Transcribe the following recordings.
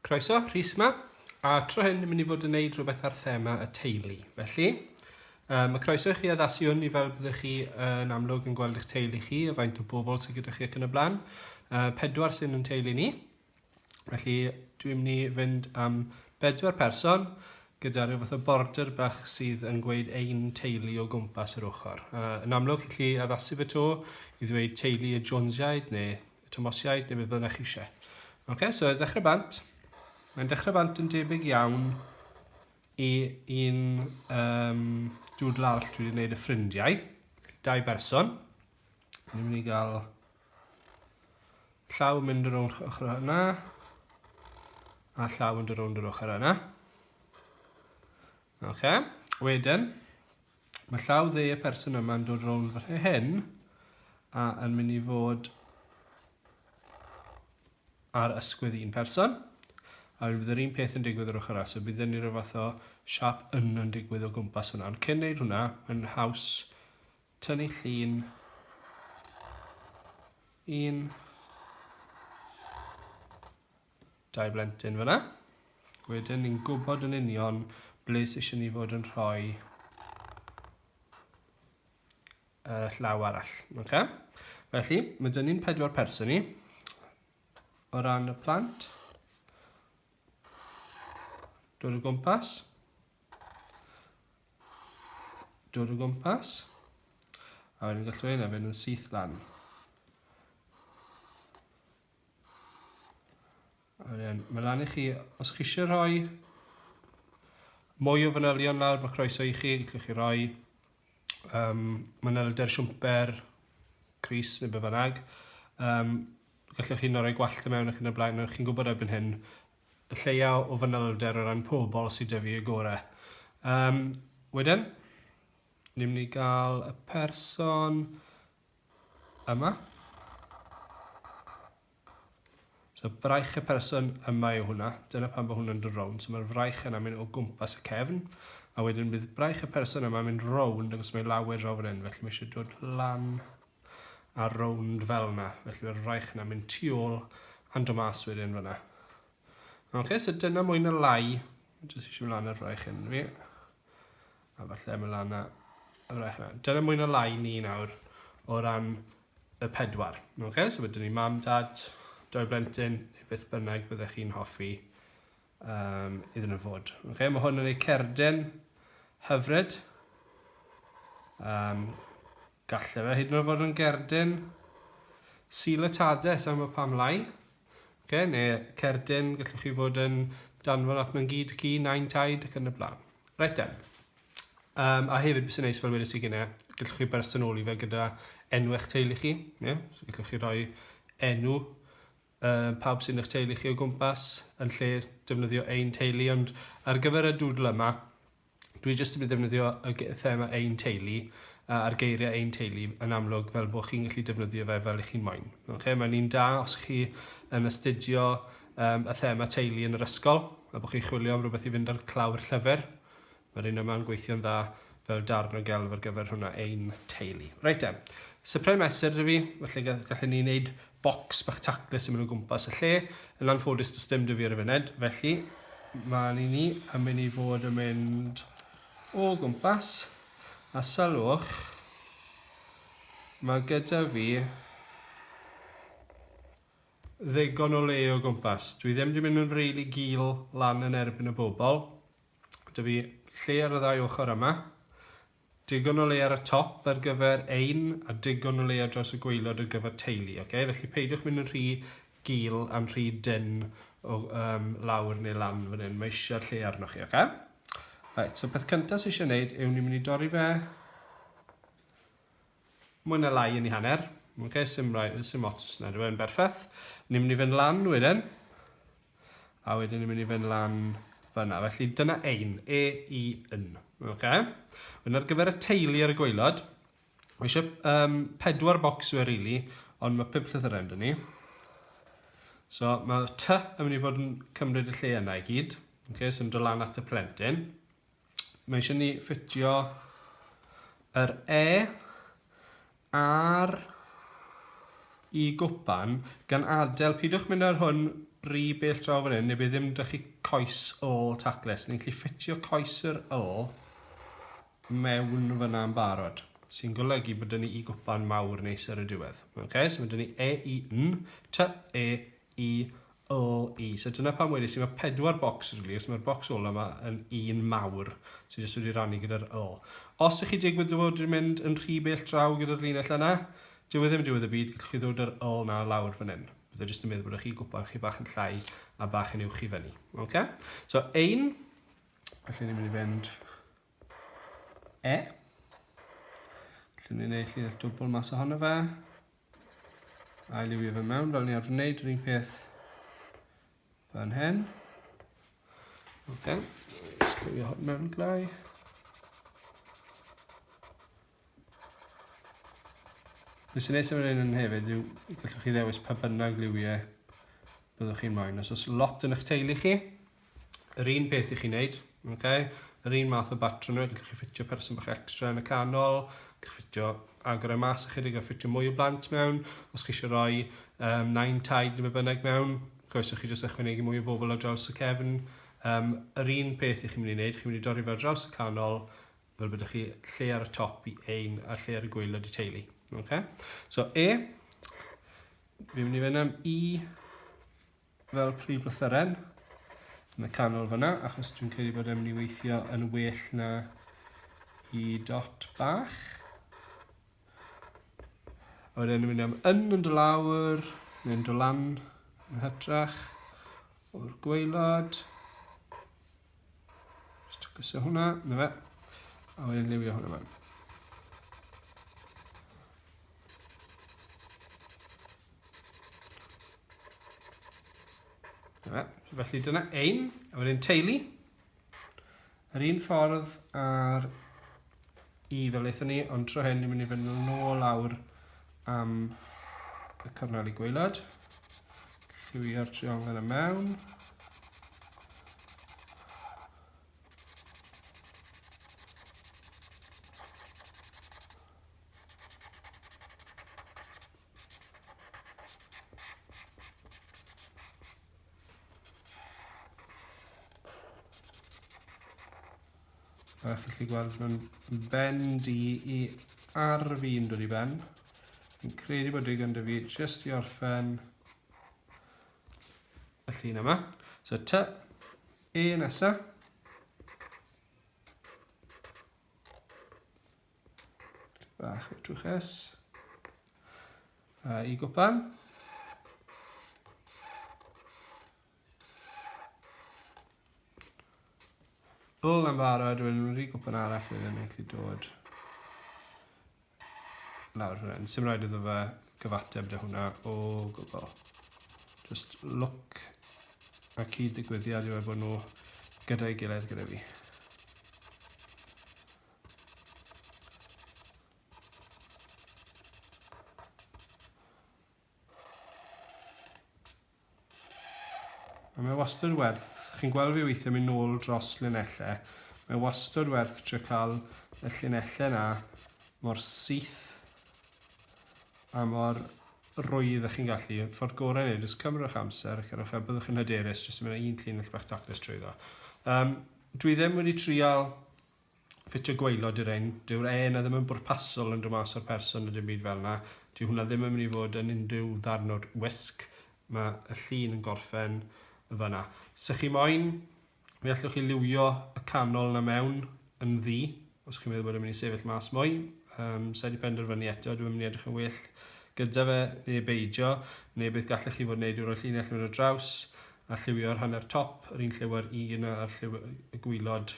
Croeso, Rhys ma. A tro hyn, ni'n mynd i fod yn neud rhywbeth ar thema y teulu. Felly, um, mae croeso i chi addasu hwn i fel byddwch chi yn amlwg yn gweld eich teulu chi, a faint o bobl sydd gyda chi ac yn y blaen. Uh, pedwar sy'n yn teulu ni. Felly, dwi'n mynd i fynd am bedwar person gyda rhyw fath o border bach sydd yn gweud ein teulu o gwmpas yr ochr. Uh, yn amlwg, chi'n lli addasu fe to i ddweud teulu y Jonesiaid neu y Tomosiaid neu beth bynnag chi eisiau. Oce, okay, so ddechrau bant. Mae'n dechrau bant yn debyg iawn i un um, dŵdl arall dwi wedi gwneud y ffrindiau. Dau berson. Ni'n mynd i gael Llaw yn mynd rownd ochr yna. A llaw yn dod rownd yr ochr yna. Oce. Okay. Wedyn, mae llaw dde y person yma'n dod rownd fy hyn a yn mynd i fod ar ysgwydd un person. A wedyn bydd yr un peth yn digwydd yr ochr as. So bydd ni rhyw fath o siap yn yn digwydd o gwmpas hwnna. Ond cyn neud hwnna, mae'n haws Tynnu llun un dau blentyn fyna. Wedyn ni'n gwybod yn union ble sy'n eisiau ni fod yn rhoi y llaw arall. Okay? Felly, mae dyn ni'n pedwar person ni. O ran y plant, dod o gwmpas, dod o gwmpas a wedyn gallu ei nefyn yn syth lan a wedyn mae lan i chi os chi eisiau rhoi mwy o fanylion lawr mae croeso i chi gallwch chi roi um, manylder siwmper Cris neu be bynnag um, gallwch chi roi gwallt y mewn ac yn y blaen chi'n gwybod erbyn hyn y lleia o fanylder o ran pobl sydd da fi y gore. Um, wedyn, ni'n mynd i gael y person yma. So braich y person yma yw hwnna. Dyna pan bod hwnna'n dod rownd. So mae'r fraich yna mynd o gwmpas y cefn. A wedyn bydd braich y person yma mynd rownd agos mae lawer draw fan hyn. Felly mae eisiau dod lan a rownd fel 'na, felly mae'r fraich yna mynd tu ôl and o mas wedyn fyna. Ok, so dyna mwy na lai, jyst eisiau mynd lan ar fraich hyn fi, a falle mynd lan ar fraich yna. Dyna mwy na lai ni nawr o ran y pedwar. Ok, so wedyn ni mam, dad, doi blentyn, neu beth bynnag byddech chi'n hoffi um, iddyn nhw fod. Okay, mae hwn yn ei cerdyn hyfryd. Um, galle fe hyd yn oed fod yn gerdyn silatades am y pam lai. Okay, neu cerdyn, gallwch chi fod yn danfon at mewn gyd chi, nain taid ac yn y blaen. Reit den. Um, a hefyd, bys yn neis fel wedys i gynnau, gallwch chi bersonoli fe gyda enw eich teulu chi. Yeah? So gallwch chi roi enw Yy pawb sy'n eich teulu chi o gwmpas yn lle defnyddio ein teulu ond ar gyfer y dŵdl yma dwi jyst yn mynd defnyddio y ge- thema ein teulu a- a'r geiriau ein teulu yn amlwg fel bod chi'n gallu defnyddio fe fel chi'n moyn. Okay? Mae'n un da os chi yn astudio um, y thema teulu yn yr ysgol a bod chi'n chwilio am rhywbeth i fynd ar clawr llyfr Mae'r un yma'n gweithio'n dda fel darn o gelf ar gyfer hwnna ein teulu. Reit de, sypre mesur dwi fi, felly gallen ni wneud bocs bach taclus yn mynd o gwmpas y lle. Yn anffodus does dim dwi fi ar y funud, felly mae ni ni yn mynd i fod yn mynd o gwmpas a sylwch mae gyda fi ddigon o le o gwmpas. Dwi ddim wedi mynd yn rili really gil lan yn erbyn y bobl, Dw i lle ar y ddau ochr yma. Digon o le ar y top ar gyfer ein a digon o le ar draws y gweilod ar gyfer teulu. Okay? Felly peidiwch mynd yn rhy gil a'n rhy dyn o um, lawr neu lan fan hyn. Mae eisiau lle arnoch chi, okay? Right, so peth cyntaf sy'n eisiau gwneud yw ni'n mynd i dorri fe mwy na lai yn ei hanner. Ok, sim, rai, sim ots yna, dwi'n yn berffaith. Ni'n mynd i fynd lan wedyn. A wedyn ni'n mynd i fynd lan fyna. Felly dyna ein, e, i, yn. Ok. Wedyn ar gyfer y teulu ar y gweilod, mae eisiau um, pedwar bocs yw e rili, ond mae pimp llythyren dyn ni. So mae ty yn mynd i fod yn cymryd y lle yna i gyd. Ok, so yn dod lan at y plentyn. Mae eisiau ni ffitio yr E ar i gwpan gan adael, pidwch mynd ar hwn ry bell draw fan hyn, neu bydd ddim da chi coes ôl tacles. Ni'n gallu ffitio coes yr ôl mewn fyna yn barod, sy'n golygu bod dyn ni i gwpan mawr neis ar y diwedd. Okay, so mae dyn ni E, I, N, T, E, i LE. So dyna pam wedais i mae pedwar bocs yn glir, so mae'r bocs ola yma yn un mawr sydd jyst wedi rannu gyda'r LE. Os ych chi digwydd dy fod wedi mynd yn rhy bell draw gyda'r linell yna, dyw e ddim yn diwedd y byd, gallwch chi ddod yr LE na lawr fan hyn. Bydd e jyst yn meddwl bod chi gwpan chi bach yn llai a bach yn uwch i fyny. Okay? So ein, felly ni'n mynd i fynd E. Felly ni'n ei llun dwbl mas ohono fe. A liwio fe mewn fel ni arfer wneud yr un peth fan hyn. Ok, just liwio hwn mewn glai. Be sy'n neis am yr un yn hefyd yw gallwch chi ddewis pa bynnag liwiau byddwch chi'n moyn. Os oes lot yn eich teulu chi, Yr un peth i chi wneud, okay? yr un math o batrwm, gallwch chi ffitio person bach extra yn y canol, gallwch ffitio agor y e mas ychydig a ffitio mwy o blant mewn, os chi eisiau rhoi um, nain taid neu bynnag mewn, goeswch chi jyst ychwanegu mwy o bobl ar draws y cefn. Um, yr un peth i chi'n mynd i wneud, chi'n mynd i dorri fe ar draws y canol, fel byddwch chi lle ar y top i ein a lle ar y gweilod i teulu. Okay? So E, fi'n mynd i fynd am E, fel prif lythyren yn y canol fyna, achos dwi'n credu bod e'n mynd i weithio yn well na i dot bach. A wedyn mynd am yn yn dy lawr, neu'n dy lan yn hytrach o'r gweilod. Just gysio hwnna, na fe. A wedyn liwio hwnna fan. Na fe. Felly dyna ein, a wedyn teulu. Yr un ffordd ar i fel eithon ni, ond tro hyn ni'n mynd i fynd nôl lawr am y cyfnod i gweilad. Lliwio'r triongl yna mewn. A chi'n gallu gweld mae'n bend i i ar fi'n dod i ben. Fi'n credu bod digon dy fi jyst i orffen y llun yma. So ty, e nesa. Bach o trwch es. A i gwpan. Bwl yn barod, wedyn nhw'n rhi gwpan arall wedyn nhw'n gallu dod lawr hwnna. Yn symud rhaid iddo fe gyfateb dy hwnna o gwbl. Just look a cyd-ddigwyddiad i weld bod nhw gyda'i gilydd gyda fi. A mae wastad werth, chi'n gweld fi weithiau mynd nôl dros linellau, mae wastad werth trio cael y llinellau yna mor syth a mor rwydd ych chi'n gallu. Ffordd gorau neu, jyst cymrwch amser ac yrwch a byddwch yn hyderus jyst yn mynd un llinell bach tapus trwy ddo. Um, dwi ddim wedi trial ffitio gwaelod i'r ên, dyw'r ên 'na ddim yn bwrpasol yn dod mas o'r person na dim byd fel 'na, dyw hwnna ddim yn mynd i fod yn unrhyw ddarn o'r wisg, mae y llun yn gorffen yn fan'na. Sa chi moyn, mi allwch chi liwio y canol 'na mewn yn ddu, os chi'n meddwl bod e'n mynd i sefyll mas mwy, um, sa i wedi penderfynu eto, dwi'n mynd i edrych yn well gyda fe, neu beidio, neu beth gallech chi fod yn neud i roi llinell mewn y draws, a lliwio'r hanner top, yr un lliwio'r un a'r lliw y gwylod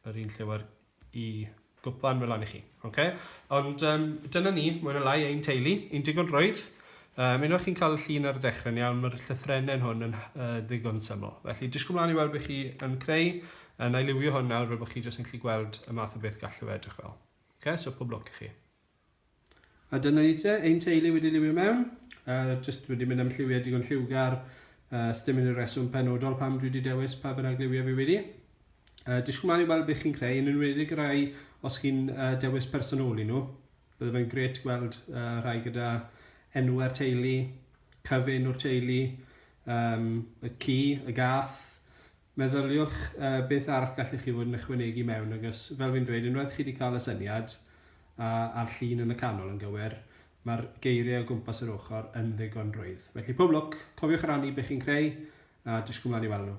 yr un llewer i gwpan fy lan i chi. Okay? Ond um, dyna ni, mwy na lai, ein teulu, un digon rwydd. Um, unwaith chi'n cael y llun ar y dechrau'n iawn, mae'r llythrennen hwn yn uh, ddigon syml. Felly, disgwyl mlaen i weld beth chi yn creu, yn ailywio hwn nawr fel bod chi jyst yn gallu gweld y math o beth gallu fe edrych fel. Okay, so pob lwc i chi. A dyna ni te, ein teulu wedi liwio mewn, uh, just wedi mynd am lliwiau digon lliwgar, uh, stym yn y reswm penodol pam dwi wedi dewis pa bynnag liwiau fi wedi. Uh, disgwyl mlaen i weld beth chi'n creu, yn enwedig y rai os chi'n uh, dewis personoli nhw. Bydde fe'n gret gweld uh, rhai gyda enw ar teulu, cyfyn o'r teulu, um, y ci, y gath, Meddyliwch beth arall gallwch chi fod yn ychwanegu mewn agos fel fi'n dweud unwaith chi wedi cael y syniad a a'r llun yn y canol yn gywir mae'r geiriau o gwmpas yr ochr yn ddigon rwydd. Felly pob lwc, cofiwch rannu be chi'n creu a disgwyl mlaen i weld nhw.